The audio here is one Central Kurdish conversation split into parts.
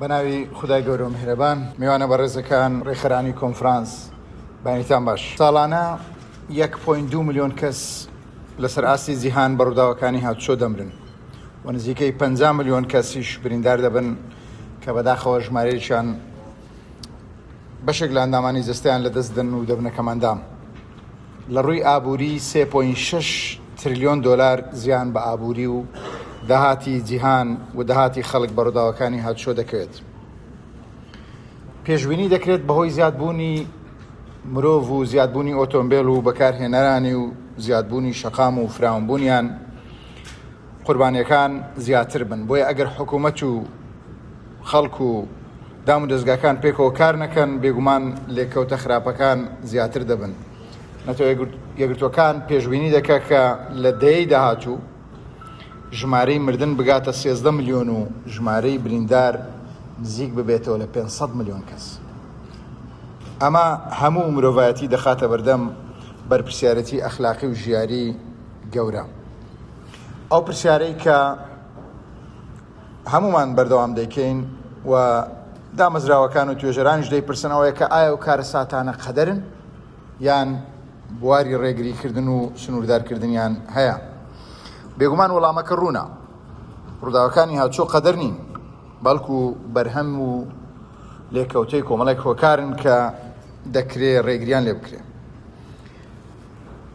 بە ناوی خودای گەورەو میهرەبان. میوانە بەڕێزەکان، ڕێکخەرانی کۆنفرانس بەینیتان باش. ساڵانە یەک پۆینت دوو ملیۆن کەس لەسەر ئاستی جیهان بە ڕووداوەکانی هاتوچۆ دەمرن و نزیکەی پەنجا ملیۆن کەسیش بریندار دەبن کە بەداخەوە ژمارەیەکیان بەشێک لە ئەندامانی جەستەیان لەدەست دەن و دەبنە کەمئەندام. لە ڕووی ئابووری سێ پۆینت شەش ترلیۆن دۆلار زیان بە ئابووری و داهاتی جیهان و داهاتی خەڵک بە ڕووداوەکانی هاتوچۆ دەکەوێت. پێشبینی دەکرێت بەهۆی زیادبوونی مرۆڤ و زیادبوونی ئۆتۆمبێل و بەکارهێنەرانی و زیادبوونی شەقام و فراونبوونیان، قوربانیەکان زیاتر بن بۆیە ئەگەر حکومەت و خەڵک و دام و دەستگاکان پێکەوە کار نەکەن بێگومان لێکەوتە خراپەکان زیاتر دەبن نەتەوە یەگرتوەکان پێشببینی دەکە کە لە دەیەی داهاتوو ژمارەی مردن بگاتە 13 میلیۆن و ژمارەی بریندار نزیک ببێتەوە لە 500 میلیۆن کەس ئەمە هەموو مرۆڤایەتی دەخاتە بەردەم بەرپسیارەتی ئەخلاقی و ژیاری گەورە ئەو پرسیارەی کە هەمومان بەردەوام دەیکەین و دامەزراوەکان و توێژەرانیش دەیپرسن ئەوەیە کە ئایا و کارەساتانە قەدەرن یان بواری ڕێگریکردن و سنووردارکردنیان هەیە بێگومان وەڵامەکە ڕوونە ڕووداوەکانی هاچۆ قەدەر نین بەڵکو بەرهەم و لێکەوتەی کۆمەڵێک هۆکارن کە دەکرێ ڕێگریان لێ بکرێن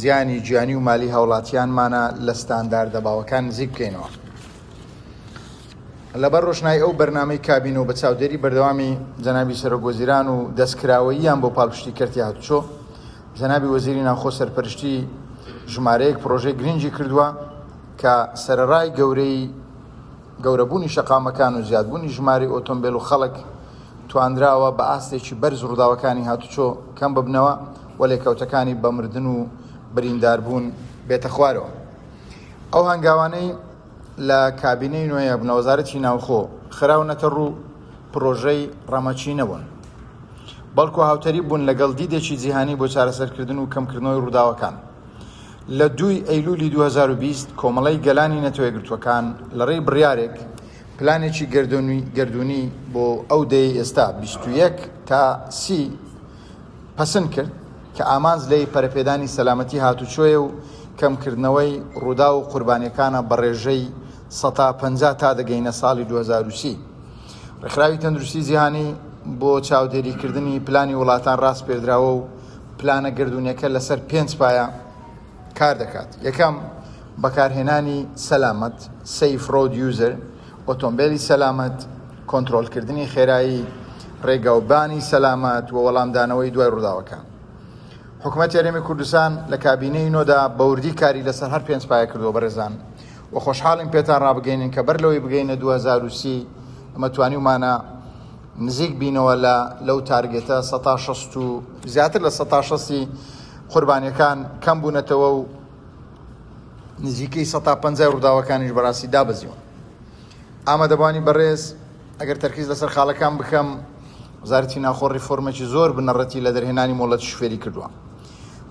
زیانی گیانی و مالی هاوڵاتیانمانە لە ستانداردە باوەکان نزیک بکەینەوە. لەبەر ڕۆشنای ئەو بەرنامەی کابینە و بە چاودێری بەردەوامی جەنابی سەرۆک وەزیران و دەستکراوەییان بۆ پاڵپشتی کەرتی هاتوچۆ، جەنابی وەزیری ناوخۆ سەرپەرشتی ژمارەیەک پڕۆژەی گرنگی کردووە کە سەرەڕای گەورەیی گەورەبوونی شەقامەکان و زیادبوونی ژمارەی ئۆتۆمبێل و خەڵک، توانراوە بە ئاستێکی بەرز ڕووداوەکانی هاتوچۆ کەم ببنەوە و لێکەوتەکانی بە مردن و برینداربوون بێتە خوارەوە. ئەو هەنگاوانەی لە کابینەی نۆیەم لە وەزارەتی ناوخۆ خراونەتە ڕوو پڕۆژەی ڕەمەکی نەبوون، بەڵکو هاوتەریب بوون لەگەڵ دیدێکی جیهانی بۆ چارەسەرکردن و کەمکردنەوەی ڕووداوەکان. لە دووی ئەیلوولی دوو هەزار و بیست کۆمەڵەی گەلانی نەتەوەیەکگرتووەکان لەڕێی بڕیارێک پلانێکی گەردوونی بۆ ئەو دەیەی ئێستا بیست و یەک تا سی پەسند کرد کە ئامانج لێی پەرەپێدانی سەلامەتی هاتوچۆیە و کەمکردنەوەی ڕووداو و قوربانیەکانە بە ڕێژەی سەتا پەنجا تا دەگەینە ساڵی دوو هەزار و سی. ڕێکخراوی تەندروستی جیهانی بۆ چاودێریکردنی پلانی وڵاتان ڕاسپێردراوە و پلانە گەردوونیەکە لەسەر پێنج پایە کار دەکات یەکەم بەکارهێنانی سەلامەت سیف ڕۆد یوزر ئۆتۆمبیلی سەلامەت کۆنتترۆلکردنی خێرایی ڕێگاوبانی سەلامەت و وەڵامدانەوەی دوای ڕووداوەکان حکوومەت یاریێمی کوردستان لە کابینەی نۆدا بەوردی کاری لەسەر هەر پێنج پایە کردو بەڕێزان و خۆشحاڵین پێتان ڕابگەینن کە بەر لەوەی بگەینە 2030 ئەمە توانیومانە نزیک بینەوە لە لەو تارگێتە سەتا شەست و زیاتر لە سەتا شەستی قوربانیەکان کەم بوونەتەوە و نزیکەی سەتا پەنجای ڕووداوەکانیش بەڕاستی دابەزیون ئامادەبانی بەڕێز ئەگەر تەرکیز لەسەر خاڵەکان بکەم وزارەتی ناخۆ ڕیفۆرمێکی زۆر بنەڕەتی لە دەرهێنانی مۆڵەت شوفێری کردووە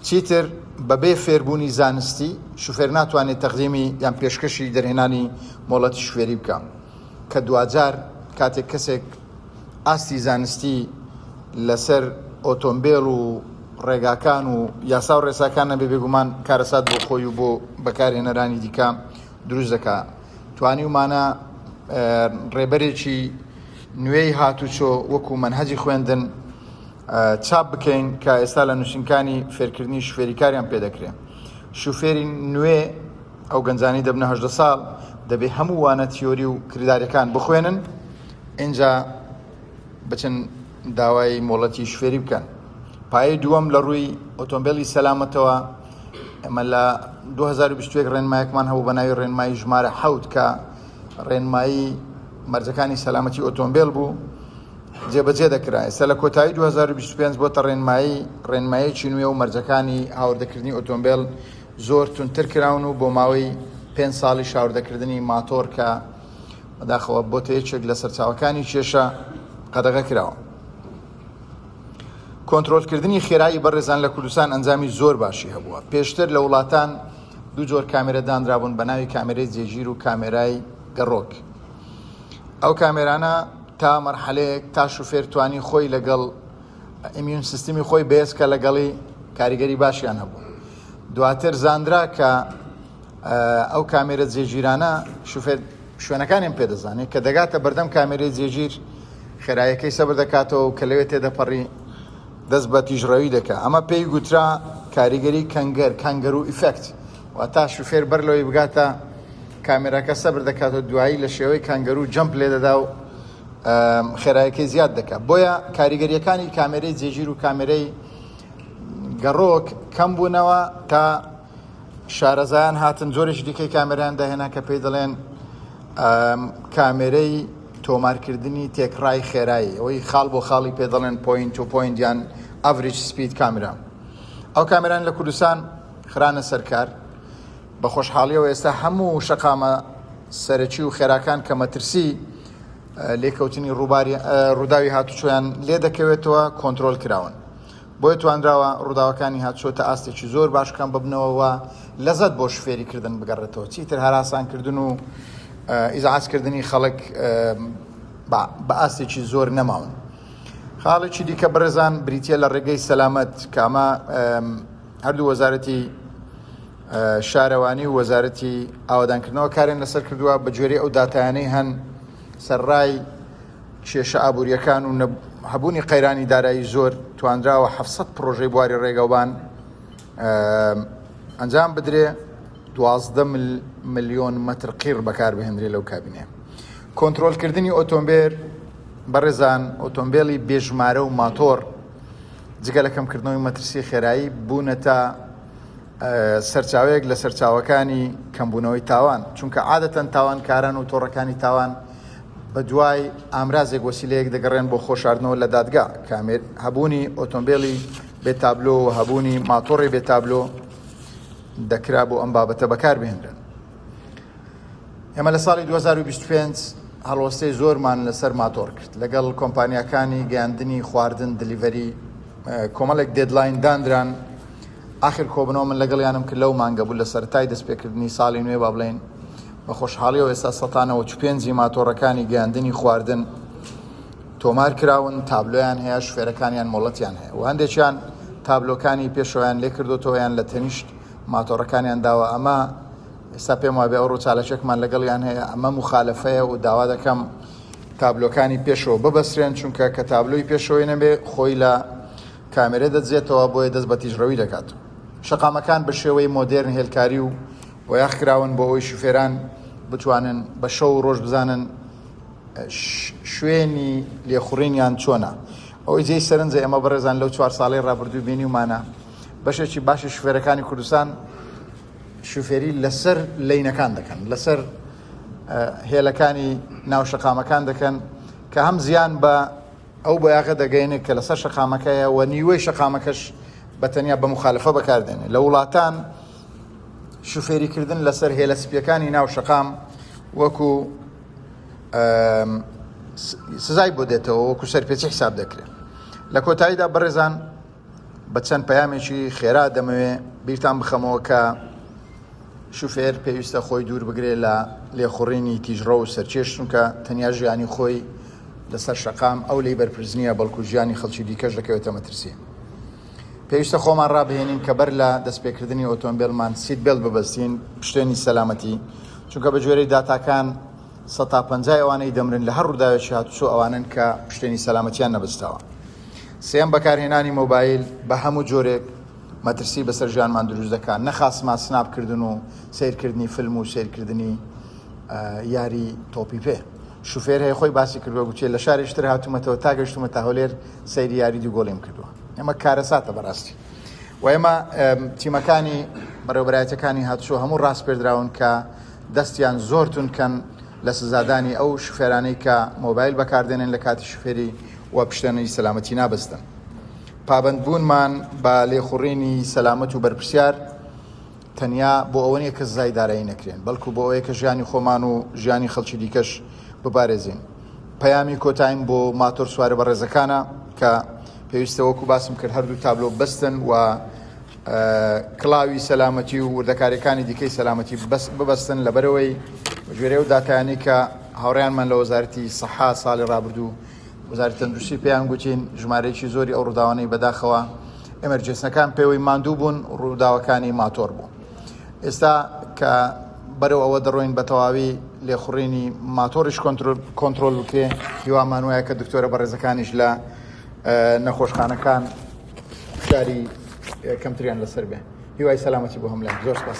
چیتر بەبێ فێربوونی زانستی شوفێر ناتوانێت تەقدیمی یان پێشکەشی دەرهێنانی مۆڵەتی شوێری بکە کە دواجار کاتێک کەسێک ئاستی زانستی لەسەر ئۆتۆمبێل و ڕێگاکان و یاسا و ڕێساکان نەبێ بێگومان کارەسات بۆ خۆی و بۆ بەکارهێنەرانی دیکە دروست دەکا توانی ومانە ڕێبەرێکی نوێی هاتوچۆ وەکو منهەجی خوێندن چاپ بکەین کە ئێستا لە نووسنکانی فێرکردنی شوفێریکاریان پێدەکرێن شوفێری نوێ ئەو گەنجانەی دەبنە هەژدە ساڵ دەبێ هەموو وانە تیۆری و کرداریەکان بخوێنن ئینجا بچن داوای مۆڵەتی شوێری بکەن پایەی دووەم لە ڕووی ئۆتۆمبیلی سەلامەتەوە ئەمە لە 2021 ڕێنمایەکمان هەبوو بە ناوی ڕێنمایی ژمارە حەوت کە ڕێنمایی مەرجەکانی سەلامەتی ئۆتۆمبیل بوو جێبەجێ دەکرا ئێستا لە کۆتایی 2025 بۆتە ڕێنمایی ڕێنمایەکی نوێ و مەرجەکانی هاوردەکردنی ئۆتۆمبیل زۆر توندتر کراون و بۆ ماوەی پێنج ساڵیش هاوردەکردنی ماتۆڕ کە بەداخەوە بۆتە یەکێک لە سەرچاوەکانی کێشە قەدەغە کراوە. کۆنترۆلکردنی خێرایی بەڕێزان لە کوردستان ئەنجامی زۆر باشی هەبووە پێشتر لە وڵاتان دوو جۆر کامێرە دانرابوون بە ناوی کامێرەی جێگیر و کامێرای گەڕۆک ئەو کامێرانە تا مەرحەلەیەک تا شوفێر توانی خۆی لەگەڵ ئەمیون سیستمی خۆی بێز کە لەگەڵی کاریگەری باشیان هەبوو دواتر زانرا کە ئەو کامێرە جێگیرانە شوفێر شوێنەکانیان پێدەزانێت کە دەگاتە بەردەم کامێرەی جێگیر خێرایەکەی سەبر دەکاتەوە و کە لەوێ تێدەپەڕی دەست بە تیژڕەوی دەکە ئەمە پێی گوترا کاریگەری کەنگەر کەنگەر و ئیفەکت و تا شوفێر بەر لەوەی بگاتە کامێراکە سەبر دەکات و دوایی لە شێوەی کەنگەر و جەمپ لێ دەدا و خێرایەکەی زیاد دەکات بۆیە کاریگەریەکانی کامێرەی جێگیر و کامێرەی گەڕۆک کەم بوونەوە تا شارەزایان هاتن جۆرێکی دیکەی کامێرایان داهێنا کە پێی دەڵێن کامێرەی تۆمارکردنی تێکڕای خێرایی ئەوەی خاڵ بۆ خاڵی پێ دەڵێن پوینت و پوینتیان ئەڤریج سپید کامرا ئەو کامران لە کوردستان خرانە سەرکار بە خۆشحاڵیەوە ئێستا هەموو شقامە سەرەکی و خێراکان کە مەترسی لێکەوتنی ڕووباری ڕووداوی هاتوچۆیان لێ دەکەوێتەوە کۆنتترۆل کراون بۆیە توانراوە ڕووداوەکانی هاتشۆ تا ئاستێکی زۆر باش کەم ببنەوە و لەزەت بۆ شفێری کردن بگەڕێتەوە چیتر هەراسانکردن و ئیزعاجکردنی خەڵک بە ئاستێکی زۆر نەماون خاڵێکی دیکە بڕێزان بریتە لە ڕێگەی سەلامەت کامە هەردوو وەزارەتی شارەوانی و وەزارەتی ئاوادانکردنەوە کارێن لەسەر کردووە بە گوێری ئەو دااتانەی هەن سەرڕای کێشە ئابوورییەکان و هەبوونی قەیرانی دارایی زۆر توانراوە 700 پرۆژەی بواری ڕێگەوبان ئەنجام بدرێ دوازدە ملیۆن مەتر قیر بەکاربهێنرێ لەو کابینێ کۆنتترۆلکردنی ئۆتۆمبێر بەڕێزان ئۆتۆمبیلی بێژمارە و ماتۆر جگە لە کەمکردنەوەی مەترسی خێرایی بوونەتە سەرچاوەیەک لە سەرچاوەکانی کەمبوونەوەی تاوان، چونکە عادەتەن تاوانکاران و تۆڕەکانی تاوان بە دوای ئامرازێک وەسیلەیەک دەگەڕێن بۆ خۆشاردنەوە لە دادگا، کامێر، هەبوونی ئۆتۆمبێلی بێ تابلۆ و هەبوونی ماتۆڕی بێ تابلۆ دەکرا بۆ ئەم بابەتە بەکاربهێنرێن. ئێمە لە ساڵی 2025 هەڵوەستەی زۆرمان لەسەر ماتۆڕ کرد لەگەڵ کۆمپانیاکانی گەیاندنی خواردن دلیڤەری کۆمەڵێک دێدلاین دانران، ئاخر کۆبنەوە من لەگەڵیانم کرد لەو مانگە بوو لە سەرەتای دەست پێکردنی ساڵی نوێ با بڵێین بە خۆشحاڵیەوە ئێستا سەتا نەوەد و پێنج ی ماتۆڕەکانی گەیاندنی خواردن تۆمار کراون تابلۆیان هەیە شوفێرەکانیان مۆڵەتیان هەیە و هەندێکیان تابلۆکانی پێشەوەیان لێ کردوتەوەیان لە تەنیشت ماتۆڕەکانیان داوە ئەمە ئێستا پێم وابێ ئەو ڕووچالەکێکمان لەگەڵیان هەیە ئەمە مخالفەیە و داوا دەکەم تابلۆکانی پێشەوە ببەسرێن چونکە کە تابلۆی پێشەوەی نەبێ خۆی لە کامێرە دەدزێتەوە بۆیە دەست بە تیژڕەوی دەکات. شەقامەکان بە شێوەی مۆدێرن هێلکاری و بۆیاخ کراون بۆ ئەوەی شوفێران بتوانن بە شەو و ڕۆژ بزانن شوێنی لێخوڕینیان چۆنە. ئەوەی جێی سەرنجە ئێمە بەڕێزان لەو چوار ساڵەی ڕابردووی بینیومانە بەشێکی باشی شوفێرەکانی کوردستان شوفێری لەسەر لینەکان دەکەن لەسەر هێلەکانی ناو شەقامەکان دەکەن کە هەم زیان بە ئەو بۆیاغە دەگەینێ کە لەسەر شەقامەکەیە و نیوەی شەقامەکەش بە تەنیا بە مخالفە بەکاردێنێ لە وڵاتان شوفێریکردن لەسەر هێلە سپیەکانی ناو شەقام وەکو سزای بۆ دێتەوە وەکو سەرپێچی حساب دەکرێت لە کۆتاییدا بەڕێزان بە چەند پەیامێکی خێرا دەمەوێ بیرتان بخەمەوە کە شوفێر پێویستە خۆی دوور بگرێ لە لێخوڕینی تیژڕە و سەرکێش چونکە تەنیا ژیانی خۆی لەسەر شەقام ئەو لی بەرپرس نییە بەڵکو ژیانی خەڵکی دیکەش دەکەوێتە مەترسی پێویستە خۆمان ڕابهێنین کە بەر لە دەستپێکردنی ئۆتۆمبیلمان سیت بێڵ ببەستین پشتێنی سەلامەتی چونکە بە جۆرەی داتاکان سەد تا پەنجای ئەوانەی دەمرن لە هەر ڕووداوێکی هاتوچۆ ئەوانەن کە پشتێنی سەلامەتیان نەبەستاوە. سێیەم، بەکارهێنانی مۆبایل بە هەموو جۆرێک مەترسی بەسەر ژیانمان دروست دەکات، نەخاسما سناپ کردن و سەیرکردنی فیلم و سەیرکردنی یاری تۆپی پێ. شوفێر هەیە خۆی باسی کردووە گوتیە لە شارێکی تر هاتوومەتەوە تا گەشتومە تا هەولێر سەیری یاری دوو گۆڵیم کردووە. ئەمە کارەساتە بەڕاستی. و ئێمە تیمەکانی بەڕێوەبەرایەتیەکانی هاتوچۆ هەموو ڕاسپێردراون کە دەستیان زۆر توند کەن لە سزادانی ئەو شوفێرانەی کە مۆبایل بەکاردێنێن لە کاتی شوفێری و پشتێنەی سەلامەتی نابەستن. پابەندبوونمان بە لێخوڕینی سەلامەت و بەرپرسیار تەنیا بۆ ئەوە نییە کە سزای دارایی نەکرێن، بەڵکو بۆ ئەوەیە کە ژیانی خۆمان و ژیانی خەڵکی دیکەش بپارێزین. پەیامی کۆتاییم بۆ ماتۆرسوارە بەڕێزەکانە کە پێویستە وەکو باسم کرد هەردوو تابلۆ ببەستن و کڵاوی سەلامەتی و وردەکاریەکانی دیکەی سەلامەتی ببەستن لەبەرەوەی بەگوێرەی ئەو داتایانەی کە هاوڕیانمان لە وەزارەتی سەحا ساڵی ڕابردوو وەزاری تەندروستی پێیان گوتین ژمارەیەکی زۆری ئەو ڕووداوانەی بەداخەوە ئەمەرجێسنەکان پێوەی ماندوو بوون ڕووداوەکانی ماتۆر بوو ئێستا کە بەرەو ئەوە دەڕۆین بە تەواوی لێخوڕینی ماتۆریش کۆنتترۆل بکرێ هیوامان وایە کە دکتۆرە بەڕێزەکانیش لە نەخۆشخانەکان فشاری کەمتریان لەسەر بێ هیوای سەلامەتی بۆ هەملای زۆر سپاس.